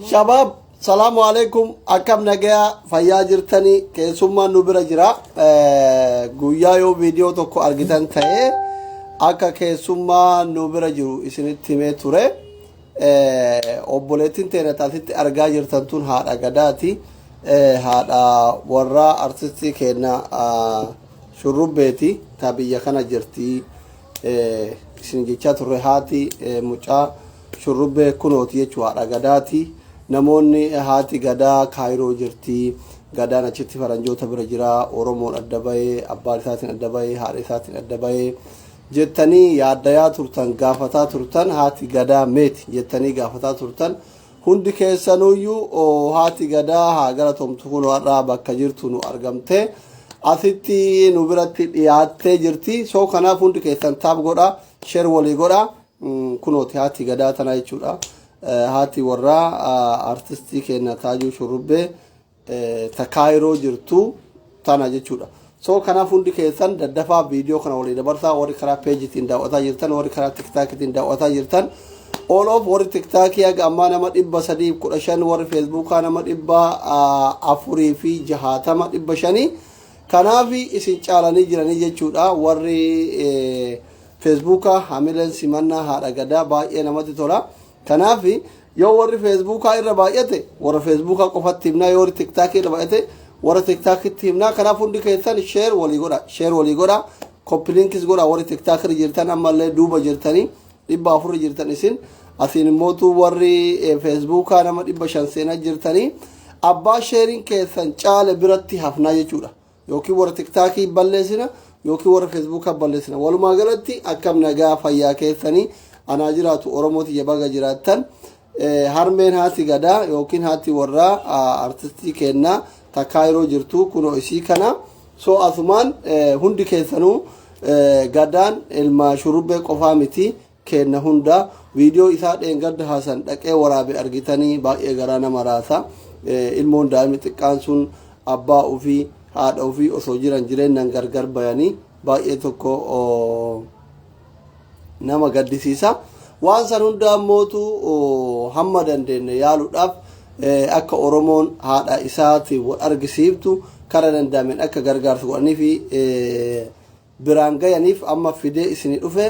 shabaab salaamu alaikum akkam nagayaa fayyaa jirtanii keessummaan nu bira jira Eh, guyyaa yoo viidiyoo tokko argitan ta'e akka keessummaa nu bira jiru isinitti himee ture Obboleettiin teenya ta asitti argaa jirtan tun haadha gadaati. Haadha warraa artistii keenya shurrubbeeti ta biyya kana jirti. Isin jechaa turre haati mucaa shurrubbee kunooti jechuu haadha gadaati. Namoonni haati gadaa kaayiroo jirti. Gadaan achitti faranjoota bira jira. Oromoon adda bahee abbaan isaatiin adda bahee haadha isaatiin adda bahee. jettanii yaaddayaa turtan gaafataa turtan haati gadaa meet jettanii gaafataa turtan hundi keessanuyyuu oo, haati gadaa haa galatomtu kun har'aa bakka jirtu nu argamte asitti nu biratti dhiyaattee jirti soo kanaaf hundi keessan taab godha sheer walii godha Mm, kunooti haati gadaa tana jechuudha Eh, haati warraa ah, artistii keenya taajuu shurrubbee ta kaayiroo jirtu tana jechuudha. So kanaaf hundi keessan daddafaa viidiyoo kana walii dabarsaa warri karaa peejiitiin daawwataa jirtan warri karaa tiktaakiitiin daawwataa jirtan all of warri tiktaakii haga ammaa nama dhibba sadii kudha shan warri feesbuukaa nama dhibba afurii fi jahaatama dhibba shanii kanaaf isin caalanii jiranii jechuudha warri feesbuukaa hamileen simannaa haadha gadaa baay'ee namatti tola. Kanaaf yoo warri feesbuukaa irra baay'ate warra feesbuukaa qofatti himnaa yoo warri tiktaakii irra baay'ate warra tiktaakitti himnaa kanaaf hundi keessan sheer walii godha sheer walii godha koppiliinkis godha warri tiktaak irra jirtan ammallee duuba jirtanii dhibba afur irra jirtan isin asiin immootu warri eh, feesbuukaa nama dhibba shan seenaa jirtanii abbaa sheeriin keessan caale biratti hafnaa jechuudha yookiin warra tiktaakii balleessina yookiin warra feesbuukaa balleessina walumaa galatti akkam nagaa fayyaa keessanii anaa jiraatu oromoo tiyya baga jiraattan Eh, harmeen haati gadaa yookiin haati warraa ah, artistii kennaa takkaa yeroo jirtu kunoo isii kana so asumaan eh, hundi keessanuu eh, gadaan ilma shurubbee qofaa miti keenna hundaa video isaa dheengadda Hasan dhaqee waraabe argitanii baay'ee garaa nama raasa ilmoon daa'imni xiqqaan sun abbaa ofii haadha ofii osoo jiran jireennan gargar bayanii baay'ee tokko nama gaddisiisa waan san hundaa mootu hamma dandeenye yaaluudhaaf akka oromoon haadha isaati wal argisiiftu kara danda'ameen akka gargaarsu godhanii fi biraan gayaniif amma fidee isini dhufe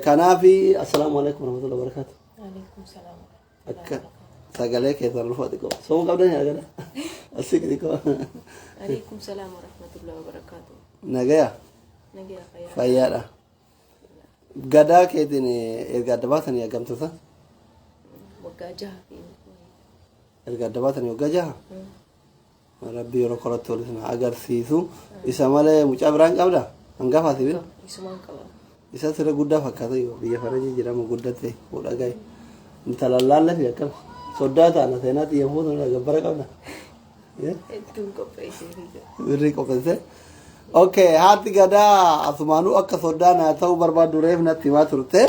kanaafi assalaamu alaikum warahmatullahi wabarakatuh Waalaikum salaam. akka sagalee keessan lufa xiqqoo somu qabdan yaagala asii xiqqoo Waalaikum salaam warahmatullahi wabarakatuh. nagaya Nagaa fayyaa. fayyaadha gadaa keetiin erga adda baatanii argamtota Waggaa jaha fi erga adda baatanii waggaa jaha Mm. Rabbi yeroo koratti wal isin agarsiisu. Isa malee mucaa biraa hin qabda? Hangafa si bira? Isumaan qaba. Isa sirra guddaa fakkaata yoo biyya farajii jedhamu guddatte fuudha gahe. Intala laallee fi akkam soddaa taana seenaa xiyya fuutu irraa gabbara qabda. Hedduun qopheessee fi jira. Birrii qopheesse. Okay, haati gadaa asumaanuu akka soddaa naa ta'uu barbaaddu reef natti himaa turte.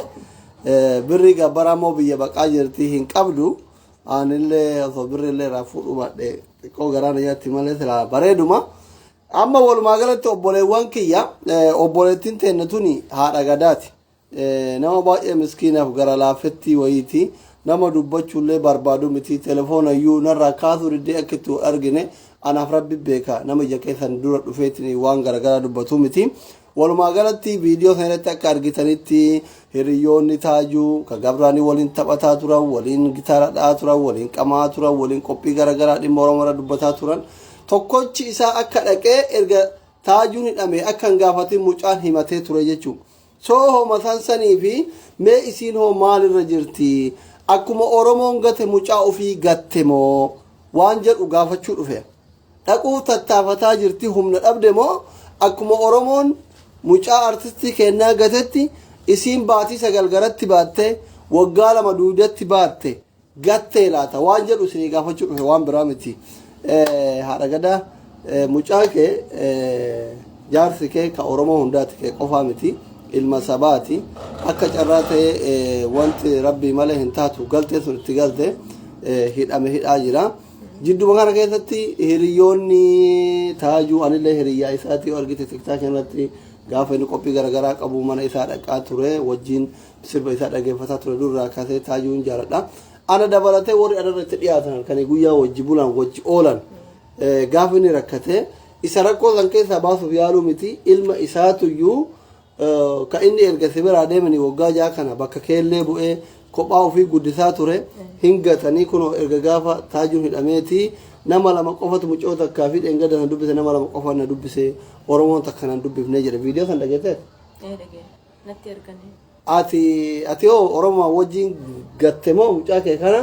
Birrii gabbaraa immoo biyya baqaa jirti hin qabdu. Anillee osoo birri illee irraa fuudhuu baadhe xiqqoo garaa na nyaatti malee silaa bareeduma. Amma walumaa galatti obboleewwan kiyya eh, obboleettiin teenna tuni haadha gadaati. Eh, Nama baay'ee miskiinaaf gara laafettii wayiiti. Nama dubbachuullee barbaadu miti. Telefoona iyyuu narraa kaasuu diddee akka itti wal argine anaaf rabbi beeka. Nama ija keessan dura dhufeetiin waan garaagaraa dubbatu miti. Walumaa galatti viidiyoo kana irratti akka argitanitti hiriyyoonni Taajuu ka Gabraanii waliin taphataa turan, waliin gitaara dha'aa turan, waliin qamaa turan, waliin qophii garaagaraa dhimma Oromoo irra dubbataa turan. Tokkochi isaa akka dhaqee erga Taajuun hidhame akka hin gaafatin mucaan himatee ture jechuudha. Soo hoo mataan sanii fi mee isiin hoo maalirra jirti? Akkuma Oromoon gate mucaa ofii gatte moo? Waan jedhu gaafachuu dhufe. dhaquuf tattaafataa jirti humna dhabde moo akkuma oromoon mucaa artistii keennaa gatetti isiin baatii sagal garatti baatte waggaa lama duudatti baatte gattee laata waan jedhu isinii gaafachuu dhufe waan biraa miti Eh, haadha gadaa eh, mucaa kee eh, jaarsi kee ka oromoo hundaati kee qofaa miti ilma sabaati akka carraa ta'ee eh, wanti rabbii malee hin taatu galtee sun itti galte eh, hidhame hidhaa jira Jidduma kana keessatti hiriyoonni taajuu anillee hiriyyaa isaati yoo argite tiktaak irratti gaafa inni qophii garaagaraa qabu mana isaa dhaqaa ture wajjin sirba isaa dhaggeeffataa ture durraa kaasee taajuun jaaladha. Ana dabalatee warri anarra itti dhiyaatan kan guyyaa wajji bulan wajji oolan gaafa inni rakkate isa rakkoo san keessaa baasuuf yaaluu miti ilma isaatuyyuu Ka inni erga si biraa deemanii waggaa ja'a kana bakka keellee bu'ee kophaa ofii guddisaa ture hin gatanii kunoo erga gaafa taajuun hidhameeti nama lama qofatu mucoo takkaa fi dheengadda na dubbise nama lama qofa na dubbise oromoon takka na dubbifne jedhe viidiyoo san dhageessee Ee dhagee. Natti erganii. ati ati hoo oromoo wajjin gatte moo mucaa kee kana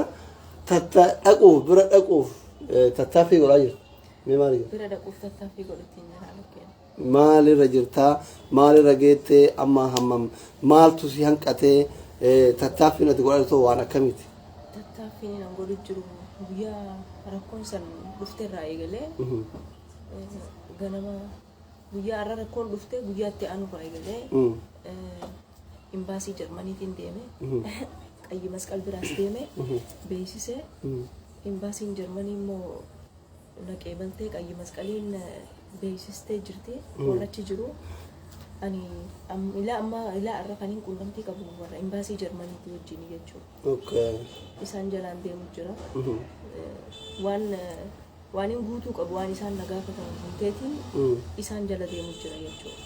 tatta dhaquuf bira dhaquuf eh, tattaaffii godhaa jirtu mee maal jedhu Bira dhaquuf tattaaffii godhutiin jira lakkeen. Maal irra jirta? Maal irra geette? Amma hammam? Maaltu si hanqate? Tattaaffiin ati godhaa jirtu waan akkamiiti? Tattaaffiin an godhu jiru guyyaa rakkoon san dhufte irraa eegalee ganama guyyaa har'a rakkoon dhufte guyyaa itti aanu irraa eegalee imbaasii Jarmaniitiin deeme qayyi masqal biraas deeme beeksisee imbaasiin Jarmanii immoo naqee baltee qayyi masqaliin beeksistee jirti warra achi jiru ani am- ilaa amma ilaa irra kan hin qunnamtii qabu warra imbaasii jarmaniitii wajjin jechuudha Okay. isaan jalaan deemu jira Mhm. Eh, waan eh, waan hin guutuu qabu waan isaan na gaafatan hin teetiin Mm. isaan jala deemu jira jechuudha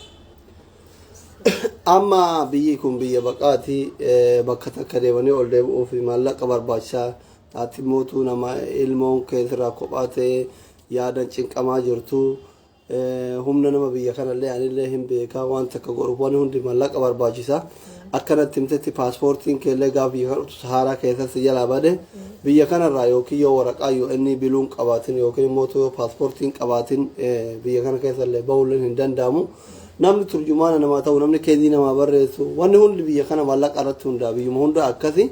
Amma biyyi kun biyya baqaati eh, bakka takka deemanii ol deebi'uuf maallaqa barbaachisaa Ati mootuu namaa ilmoon kee sirraa kophaa ta'ee yaadan cinqamaa jirtu. Humna nama biyya kanallee anillee hin beekaa waan takka godhuuf waan hundi mallaqa barbaachisa. Akkanatti himtetti paaspoortiin keellee gaafa biyya kana dhuftu sahaaraa keessatti si jalaa bade biyya kanarraa yookiin yoo waraqaa UN biluun qabaatin yookiin immoo yoo paaspoortiin qabaatin biyya kana keessallee bahuulleen hin danda'amu. Namni turjumaana namaa ta'u namni keezii namaa barreessu wanni hundi biyya kana mallaqa irratti hundaa'a biyyuma hunda akkasi.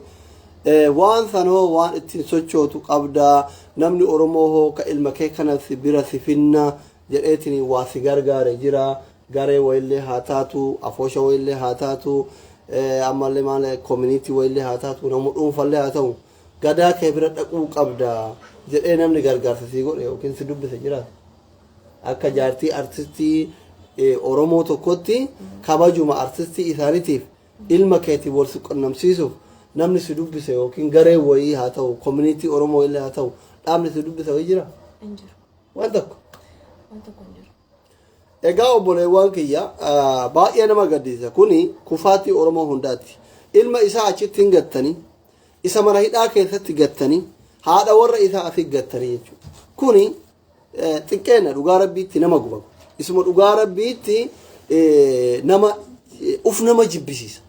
Waan san hoo waan ittiin sochootu qabdaa? Namni Oromoo hoo ka ilma kee kana si bira si finna jedheetiin waa si gargaare jira? Garee wayillee haa taatu, afoosha wayillee haa taatu, ammallee maal koominiitii wayillee haa taatu, nama dhuunfallee haa ta'u, gadaa kee bira dhaquu qabda jedhee namni gargaarsa sii godhe yookiin si dubbise jira? Akka jaartii artistii Oromoo tokkotti kabajuma artistii isaaniitiif Ilma keetiin wal si qunnamsiisuuf namni si dubbise yookiin gareen wayii haa ta'u, community Oromoo illee haa ta'u, dhaabni si dubbise wayii jira? Hin jiru. Waan tokko. Waan tokko hin jiru. Egaa obboleewwan kiyya ah, baay'ee nama gaddisiisa. Kuni kufaatii Oromoo hundaati. Ilma isaa achitti hin gattanii, isa mana hidhaa keessatti gattanii, haadha warra isaa asi gattanii jechuudha. Kuni xiqqeenna dhugaa rabbiitti nama guba isuma dhugaa rabbiitti nama uf nama jibbisiisa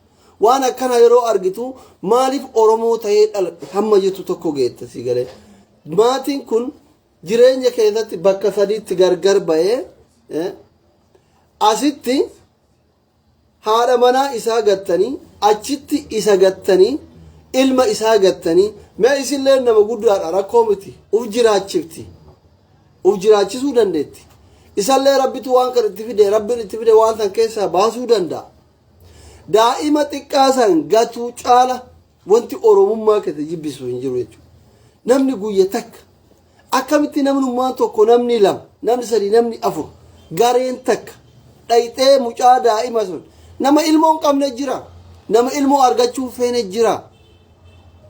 waan akkana yeroo argitu maaliif oromoo ta'ee dhaladhe hamma jettu tokko geetta si galee maatiin kun jireenya keessatti bakka sadiitti gargar ba'ee asitti haadha manaa isaa gattanii achitti isa gattanii ilma isaa gattanii mee isilleen nama guddaadha rakkoo miti uf jiraachifti uf jiraachisuu dandeetti isallee rabbitu waan kan itti fide rabbiin itti fide waan san keessaa baasuu danda'a daa'ima xiqqaa san gatuu caala wanti oromummaa keessa jibbisu hin jiru jechuudha namni guyya takka Akkamitti namnummaan tokko namni lama, namni sadii, namni afur, gareen takka dhayxee mucaa daa'ima sun nama ilmoo hin qabne jira. Nama ilmoo argachuu hin feene jira.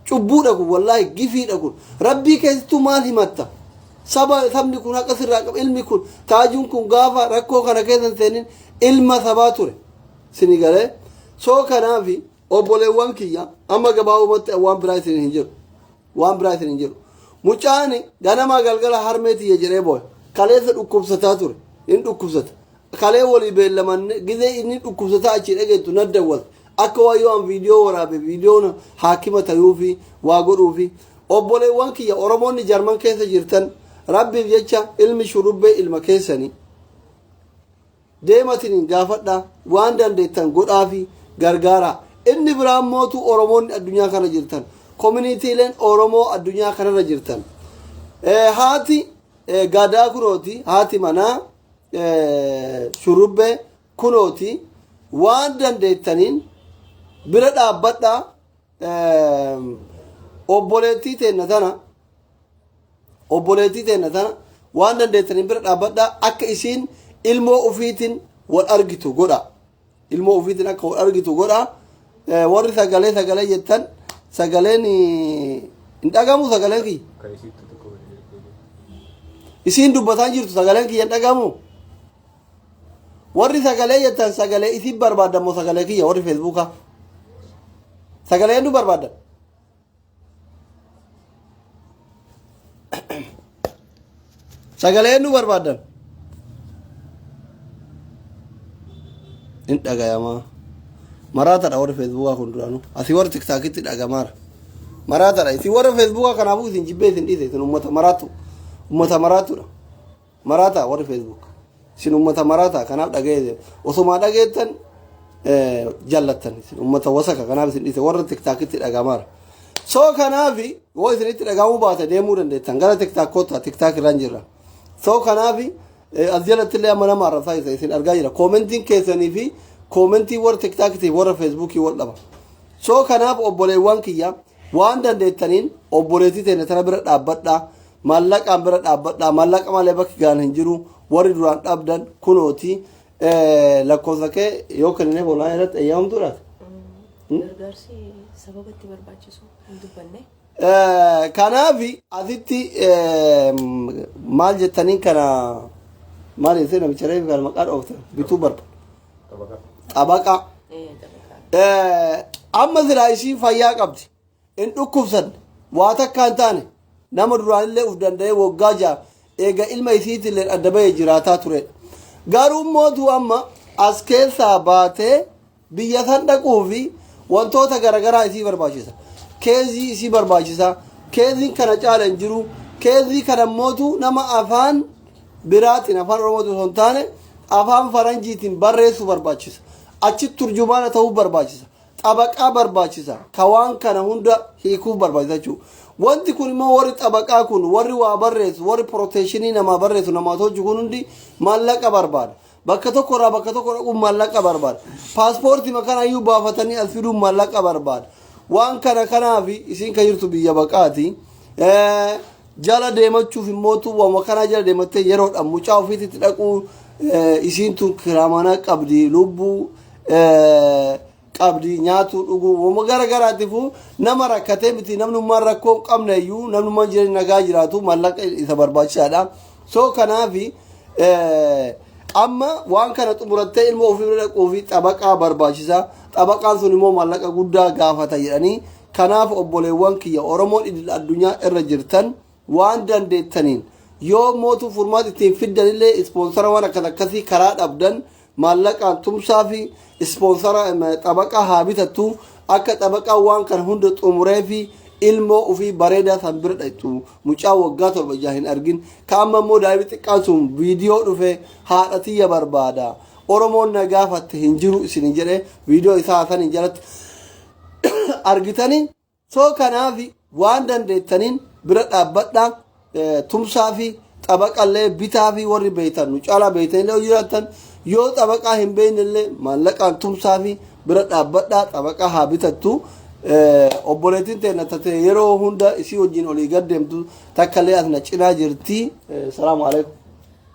Cubbuudha kun wallaahi gifiidha kun. Rabbii keessattuu maal himatta? Saba sabni kun haqa sirraa qaba. Ilmi kun taajuun kun gaafa rakkoo kana keessa hin seenin ilma sabaa ture. Sini galee soo kanaafi obboleewwan kiyya amma gabaabumatti waan biraa isin hin jedhu. waan biraa isin hin jedhu mucaan ganamaa galgala harmee tiyya jedhee booya kaleessa dhukkubsataa ture hin dhukkubsata kalee walii beellamanne gizee inni dhukkubsataa achi dhageettu na dawwate akka waan yoo an viidiyoo waraabe viidiyoon haakima tayuufi waa godhuufi obboleewwan kiyya oromoonni jarman keessa jirtan rabbiif jecha ilmi shurrubbee ilma keessanii Deematiniin gaafadhaa, waan dandeettan godhaafii, gargaaraa. Inni biraa immootu Oromoonni addunyaa kana jirtan, kominitiileen Oromoo addunyaa kanarra jirtan. Eh, haati eh, gadaa kunooti, haati manaa eh, shurrubbee kunooti, waan dandeettaniin bira dhaabbadhaa. obboleettii teenna tana obboleettii teenna tana waan dandeettaniin bira dhaabbadhaa akka isiin ilmoo ufiitiin wal argitu godha ilmoo ufiitiin akka wal argitu godha Eh, warri sagalee sagalee jettan sagaleen eh, hin dhagamu sagaleen kiyya Kan isitti tokko waliin jirtu. isiin dubbataa jirtu sagaleen kiyya hin dhagamu warri sagalee jettan sagalee isin barbaaddan moo sagalee kiyya warri feesbuukaa sagalee eenyu barbaaddan sagalee eenyu barbaaddan hin dhagayamaa maraatadha warri feesbuukaa kun duraanuu asii warri tiktaakitti dhagamaara maraatadha isin warra feesbuukaa kanaafuu isin jibbee isin dhiise isin ummata maraattu ummata maraattuudha Maraataa warri Facebook. Isin uummata maraataa kanaaf dhaga'ee osumaa dhageettan jallattan isin uummata wasaka kanaaf isin dhiise warra tiktaakitti dhagamaara. So kanaaf yoo isinitti dhagahamuu baate deemuu dandeettan gara tiktaak kottaa tiktaak irraan jirra. So kanaaf as jalatti illee amma nama arrabsaa isa isin argaa jira. Koomentiin keessanii fi koomentii warra tiktaakitiif warra feesbuukii wal dhaba. So kanaaf obboleewwan kiyya waan dandeettaniin obboleettii teenya tana bira dhaabbadhaa. Maallaqaan bira dhaabbadhaa maallaqa malee bakki gaan hin jiru warri duraan dhabdan kunooti lakkoofsa kee yoo kennine boonaa irratti eeyyamamtuu laata? Gargaarsi sababa itti barbaachisu hin dubbanne. Kanaaf asitti maal jettaniin kana maal jettee namicha reefu kana maqaa dhoofte bituu barba. Xabaqaa. Ee, xabaqaa. Amma silaa ishiin fayyaa qabdi. Hin dhukkubsanne. Waa takka hin taane. Nama duraanillee uf danda'ee woggaa ja'a eega ilma isiitiilleen adda bahee jiraataa turedha. Garuu mootuu amma as keessaa baatee biyya san dhaquu fi wantoota garagaraa isii barbaachisa. Keezii isii barbaachisa. Keeziin kana caala hin jiru. Keezii kana mootuu nama afaan biraatiin afaan Oromootiin osoo hin taane afaan faranjiitiin barreessuu barbaachisa. Achitti turjumaana ta'uu barbaachisa. xabaqaa barbaachisa ka waan kana hunda hiikuuf barbaachisa jechuudha. Wanti kun immoo warri xabaqaa kun warri waa barreessu warri pirooteeshinii namaa barreessu namaa hojii kun hundi maallaqa barbaada. Bakka tokko irraa bakka tokko dhaquun maallaqa barbaada. Paaspoortii makana iyyuu baafatanii as fiduun maallaqa barbaada. Waan kana kanaaf isin kan jirtu biyya baqaati. Eh, Jala deemachuuf immoo tuwwama kanaa jala deemattee yeroodhaan mucaa ofiitti dhaquu eh, isiin tun kiraamana qabdi lubbuu qabdi nyaatu dhuguu gara garaatiifuu nama rakkatee miti namnummaan rakkoo hin qabne iyyuu namnummaan jireenya nagaa jiraatu mallaqa isa barbaachisaadha. So kanaafi amma waan kana xumurattee ilma ofii bira dhaquu fi xabaqaa barbaachisa. Xabaqaan sun immoo mallaqa guddaa gaafata jedhanii kanaaf obboleewwan kiyya Oromoon idil addunyaa irra jirtan waan dandeettaniin yoo mootu furmaata ittiin fiddan illee ispoonsara waan akkas akkasii karaa dhabdan maallaqaan tumsaa fi ispoonsara xabaqaa haa bitattu akka xabaqaa waan kan hunda xumuree fi ilmoo ofii bareedaa san bira dhaqxu mucaa waggaa torba ijaa hin argin ka amma immoo daa'imni xiqqaan sun viidiyoo dhufe haadha tiyya barbaada oromoon na gaafatte hin jiru isin jedhe viidiyoo isaa saniin jalatti argitanii So kanaaf waan dandeettaniin bira dhaabbadhaa tumsaa fi xabaqallee bitaa fi warri beektan nu caalaa beektanillee yoo jiraattan yoo xabaqaa hin beeknellee maallaqaan tumsaa fi bira dhaabbadhaa xabaqaa haa bitattu. Obboleettiin teenya tatee yeroo hunda isii wajjin olii gad deemtu takkallee as na cinaa jirti. Salaamu alaikum.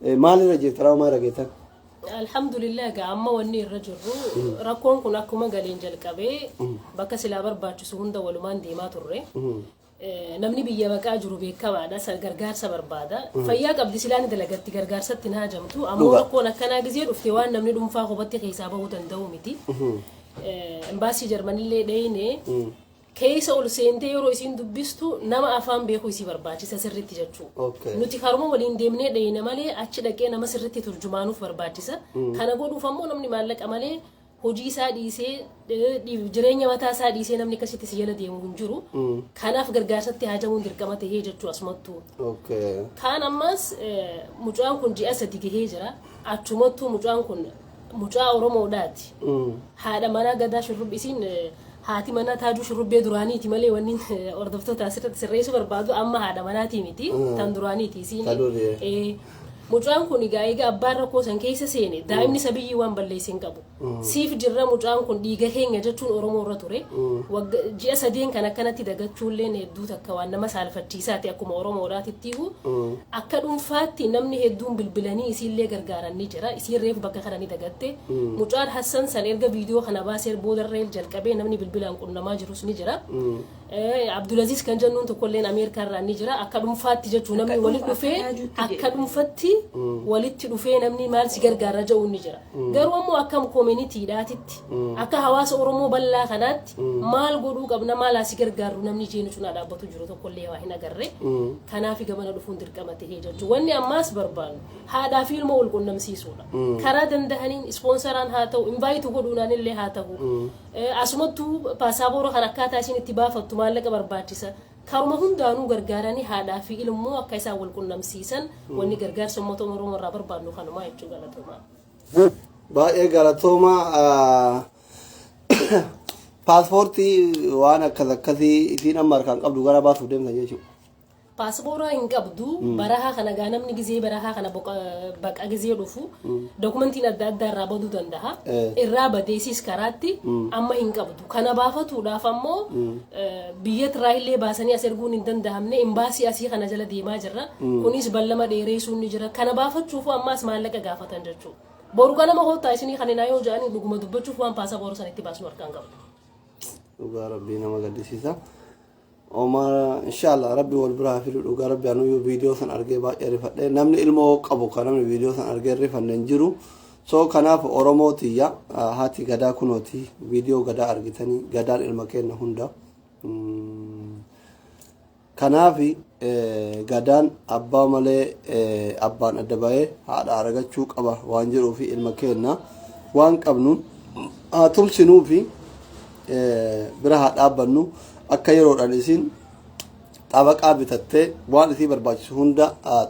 Maalirra jirta raawmaa irra geettan? Alhamdulillah egaa amma wanni irra jirru rakkoon kun akkuma galeen jalqabee bakka silaa barbaachisu hunda walumaan deemaa turre. Eh, Namni biyya baqaa jiru beekamaadha sa- gargaarsa barbaada. Fayyaa qabdi silaa ni dalagatti gargaarsatti hin haajamtu. Ammoo Dhugaa. rakkoon akkanaa gizee dhufte waan namni dhuunfaa kophaatti keessaa bahuu danda'u miti. Eh, Embaasii Jarmanillee dheeyne keessa ol seentee yeroo isiin dubbistu nama afaan beeku isii barbaachisa sirritti jechuu. Okay. Nuti karuma waliin deemnee dheeyna malee achi dhaqee nama sirritti turjumaanuuf barbaachisa. Kana godhuuf ammoo namni maallaqa malee hojii isaa dhiisee eh, dhi- jireenya mataa isaa dhiisee namni akkasitti si jala deemu hin jiru. Kanaaf gargaarsatti haajamuun dirqama tahee jechuu asumattuu. Okay. Kaan ammas eh, mucaan kun ji'a sadi gahee jira. Achumattuu mucaan kun Mucaa Oromoodhaati. Haadha manaa gadaa shurrubbi isiin eh, haati manaa taajuu shurrubbee duraaniiti malee wanni eh, hordoftoota asirratti sirreessuu barbaadu amma haadha manaatii miti Mm. tan duraaniiti isiin. Ta durii. Eh, Mucaan kun egaa egaa abbaan rakkoo san keessa seene daa'imni isa biyyii waan balleesse hin qabu. Siif jirra mucaan kun dhiiga keenya jechuun Oromoo irra ture. Wagga- Ji'a sadeen kan akkanatti dagachuulleen hedduu takka waan nama saalfachiisa. isaati akkuma Oromoodhaatittiihu akka dhunfaatti namni hedduun bilbilanii isiillee gargaaran ni jira isiin reefu bakka kana ni dagatte mucaan Hassan san erga viidiyoo kana baaseer boodarreel jalqabee namni bilbilaan qunnamaa jirus ni jira Abdulaziz kan jennuun tokkolleen Ameerikaa irraa ni jira akka dhunfaatti jechuu namni walitti dhufee akka dhunfatti walitti dhufee namni maal si gargaara ja'uun ni jira Garuu ammoo akka koominiitiidhaatitti akka hawaasa Oromoo bal'aa kanaatti maal godhuu qabna maal asi gargaarru namni ishee nu cinaa dhaabbatu jiru tokkollee waa hin agarre. Kanaaf gamana dhufuun dirqama ta'ee jechuudha. Wanni ammaas barbaannu haadhaa fi ilmoo wal qunnamsiisuudha. Karaa danda'aniin ispoonsaraan haa ta'u invaayitu godhuunaan illee haa ta'u. Asumattuu paasaabooraa kan akkaataa isin itti baafattu maallaqa barbaachisa. Karuma hundaanuu gargaaranii haadhaa fi ilmoo akka isaan wal qunnamsiisan wanni gargaarsa uummata Oromoo irraa barbaadnu kanumaa jechuu galatoomaa. Baay'ee galatooma paaspoortii waan akkas akkasii isiin amma harkaan qabdu gara baasuuf deemtan jechuudha. Paaspoora hin qabdu barahaa kana gaa namni gizee barahaa kana boqa- baqa gizee dhufu dokumentiin adda addaa irraa baduu danda'a. Eh. Irraa badeesiis karaatti amma hin qabdu. Kana baafatuudhaaf ammoo biyya Tiraayillee baasanii as erguun hin danda'amne imbaasii asii kana jala deemaa jirra. Kunis ballama dheereessuun ni jira. Kana baafachuufuu ammaas maallaqa gaafatan jechuudha. Boru ganama hoottaa isinii kan hinaa yoo jedhanii dhuguma dubbachuuf waan paasapoora sanitti baasnu harkaan qabna. Dhugaa rabbii nama gaddisiisa. Omar inshallah rabbi wal bira haa fidu dhugaa rabbi anuu yoo viidiyoo san argee baay'ee rifadhe namni ilmoo qabu kan namni viidiyoo san argee rifanne hin jiru so kanaaf oromoo tiyya ah, haati gadaa kunooti viidiyoo gadaa argitanii gadaan ilma keenna hunda Mm, kanaaf eh, gadaan abbaa malee eh, abbaan adda bahee haadha aragachuu qaba waan jedhuufi ilma keenna waan qabnuun haa tumsinuufi bira haa dhaabbannu akka yeroodhaan isiin xabaqaa bitattee waan isii barbaachisu hunda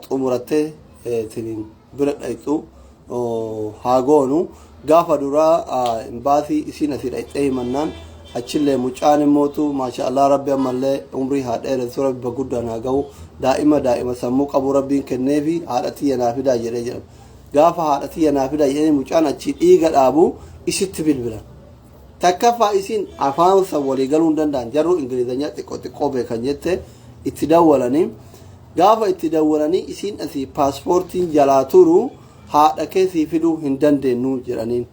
xumurattee isiniin bira dhayxu haa goonu gaafa duraa imbaasii isiin asii dhayxee himannaan achillee mucaan immootu maasha Allah rabbi ammallee umrii haa dheeressu rabbi baguddaan haa gahu daa'ima daa'ima sammuu qabu rabbiin kenneefi haadha tiyya naa fidaa jedhee jedhama gaafa haadha tiyya naa fidaa jedhanii mucaan achii dhiiga dhaabu isitti bilbilan Takkaffaa isiin afaan san walii galuu hin danda'an jarruu ingilizanyaa xiqqoo xiqqoo beekan jette itti dawwalanii gaafa itti dawwalanii isiin asii paaspoortiin jalaa turu haadha kee sii fiduu hin dandeenyu jedhaniin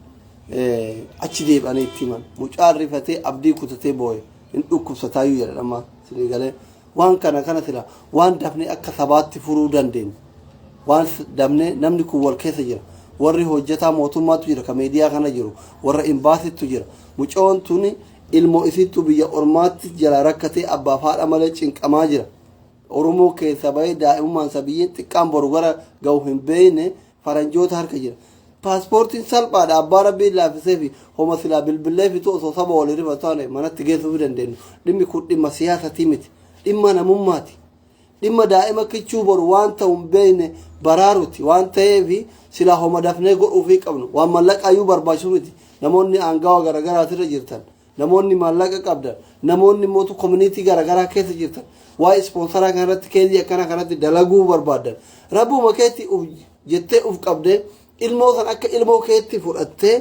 achi deebi'anii itti himan mucaan rifatee abdii kutatee booye hin dhukkubsataayyuu jedhan amma sinii galee Waan kana kana sila waan dafnee akka sabaatti furuu dandeenyu waan dafnee namni kun wal keessa jira warri hojjetaa mootummaatu jira ka meediyaa kana jiru warra imbaasittu jira mucoon tuni ilmoo isiittu biyya ormaatti jala rakkatee abbaaf haadha malee cinqamaa jira oromoo keessa bahee daa'imummaan sabiyyiin xiqqaan boru gara ga'u hin beeyne faranjoota harka jira. Paaspoortiin salphaadha abbaa rabbiin laaffisee fi homa silaa bilbillee fitu osoo saba wal hirriba taane manatti geessuu fi dandeenyu. Dhimmi kun dhimma siyaasatii miti. Dhimma namummaati. Dhimma daa'ima kichuu boru waan ta'u hin beekne baraaruti waan ta'eef silaa homa dafnee godhuu fi qabnu. Waan mallaqaayyuu barbaachisu miti. Namoonni aangawa garaagaraatirra jirtan Namoonni maallaqa qabdan, namoonni mootu community garagaraa keessa jirtan, waa'ee ispoonsaraa kana irratti keezii akkana kanatti dalaguu barbaaddan, rabbuma keetti uf jettee uf qabdee ilmoo san akka ilmoo keetti fudhattee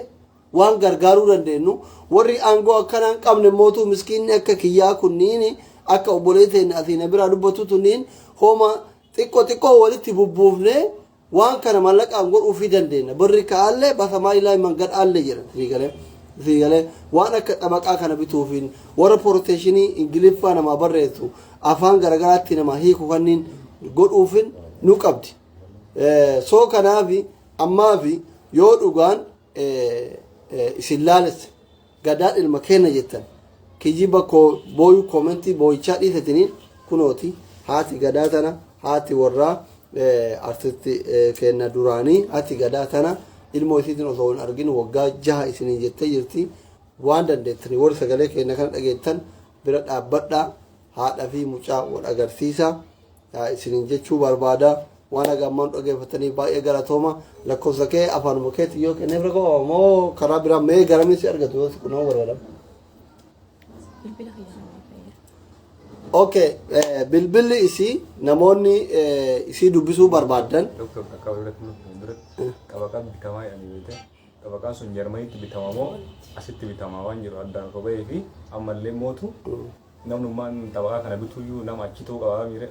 waan gargaaruu dandeenyu warri aangoo akkanaa hin qabne mootu miskiinni akka kiyyaa kunniin akka obboleeteen asii na biraa dubbatu tunniin hooma xiqqoo xiqqoo walitti bubbuufnee Waan kana mallaqaan godhuufii dandeenna. Barri ka'aallee bakka maayilaayi mangan aallee jira. Sii galee? Sii galee? Waan akka xabaqaa kana bituufiin warra poroteeshinii Ingiliffaa namaa barreessu afaan garagaraatti namaa hiiku kanniin godhuufin nu qabdi. Soo kanaafi ammaafi yoo dhugaan isin laalesse. Gadaa ilma keenna jettan kijiba koo booyu koomentii booyichaa dhiisatini kunooti haati gadaa tana haati warraa artisti keenna duraanii haati gadaa tana ilmoo isiitiin osoo hin argin waggaa jaha isiniin jettee jirti waan dandeettani warri sagalee keenna kana dhageettan bira dhaabbadhaa haadha fi mucaa wal agarsiisa isinin jechuu barbaada waan haga ammaan dhageeffatanii baay'ee galatooma lakkoofsa kee afaanuma keetiin yoo kenneef rakkoo moo karaa biraa mee garamiin si argatu yoo si qunnamuu barbaadam. Bilbila kiyyaa nama fayyada. Ok, eh, bilbilli isii namoonni eh, isii dubbisuu barbaadan Doktor akka walirratti nu fuuldura qaba qabdi kamaa jedhanii beekte. Xabaqaan sun Jarmaniitti bitama moo asitti bitama waan jedhu addaan osoo bahee fi ammallee mootu namnummaan xabaqaa kana bituyyuu nama achi ta'uu qabaa miire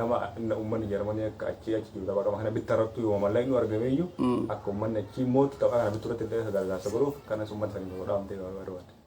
nama uummanni Jarmanii akka achi achi jiru xabaqama kana bitta irrattu yoo mallaqni nu argameeyyuu akka uummanni achi mootu xabaqaa kana bittu irratti illee akka gargaarsa godhuuf kanas uummata saniif godhaamtee barbaadde.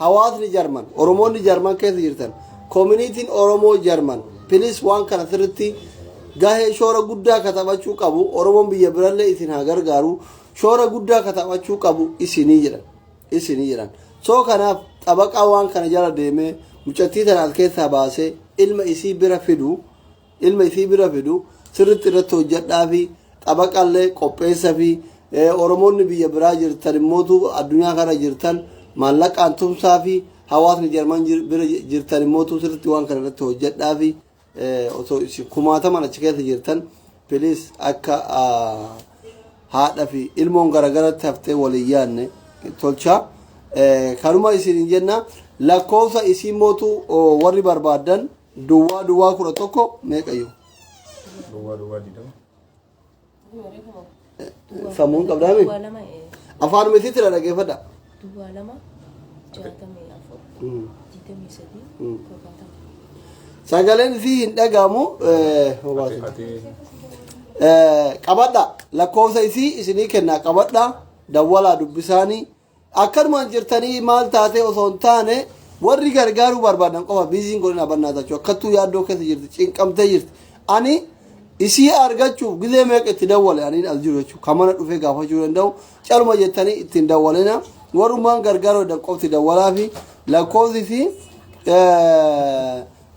Hawaasni Jarman, Oromoonni Jarman keessa jirtan, Community'n Oromoo Jarman, please waan kana sirritti gahee shoora guddaa ka taphachuu qabu, Oromoon biyya birallee isin haa gargaaru, shoora guddaa ka taphachuu qabu isinii jedhan. Isinii jedhan. So kanaaf xabaqaa waan kana jala deemee mucattii tana as keessaa baasee ilma isii bira fidu ilma isii bira fidu sirritti irratti hojjadhaafi xabaqallee qopheessafi oromoonni biyya biraa jirtan immootu addunyaa kana jirtan maallaqaan tumsaafi hawaasni jarman bira jirtan immootu sirritti waan kana irratti hojjadhaafi osoo isin kumaataman achi keessa jirtan piliis akka haadha fi ilmoon garagaratti haftee waliin yaanne tolcha kanuma isin jenna lakkoofsa isiin mootu warri barbaadan Duwwaa duwwaa kudha tokko meeqa yoo? Duwwaa duwwaa digdama. Sammuun qabdaa miti? Duwwaa lama ee, Afaan miti tira dhaggeeffadha. duwwaa lama jaatamii afur digdamii sadii Mm. torbaatama. Sagaleen fi hin dhagaamu. Ati ati Qabadha lakkoofsa isii isinii kennaa qabadha dawwalaa dubbisaanii Akkanumaan jirtanii maal taatee osoo hin taane warri gargaaruu barbaadan qofa biiziin godhin abannaa tachuu akkattuu yaaddoo keessa jirti cinqamtee jirti ani isii argachuuf gizee meeqa itti dawwale ani as jiru jechuudha kan mana dhufee gaafachuu danda'u caluma jettanii ittiin dawwalina warrumaan gargaaruu danda'an qofti dawwalaa fi lakkoofsi fi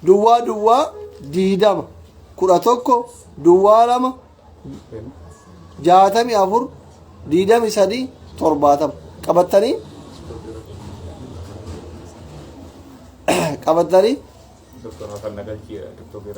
duwwaa duwwaa diidama kudha tokko duwwaa lama jaatamii afur diidami sadii torbaatama qabattanii qabattanii Doktor Hasan Nagalchii Doktor Beeraa.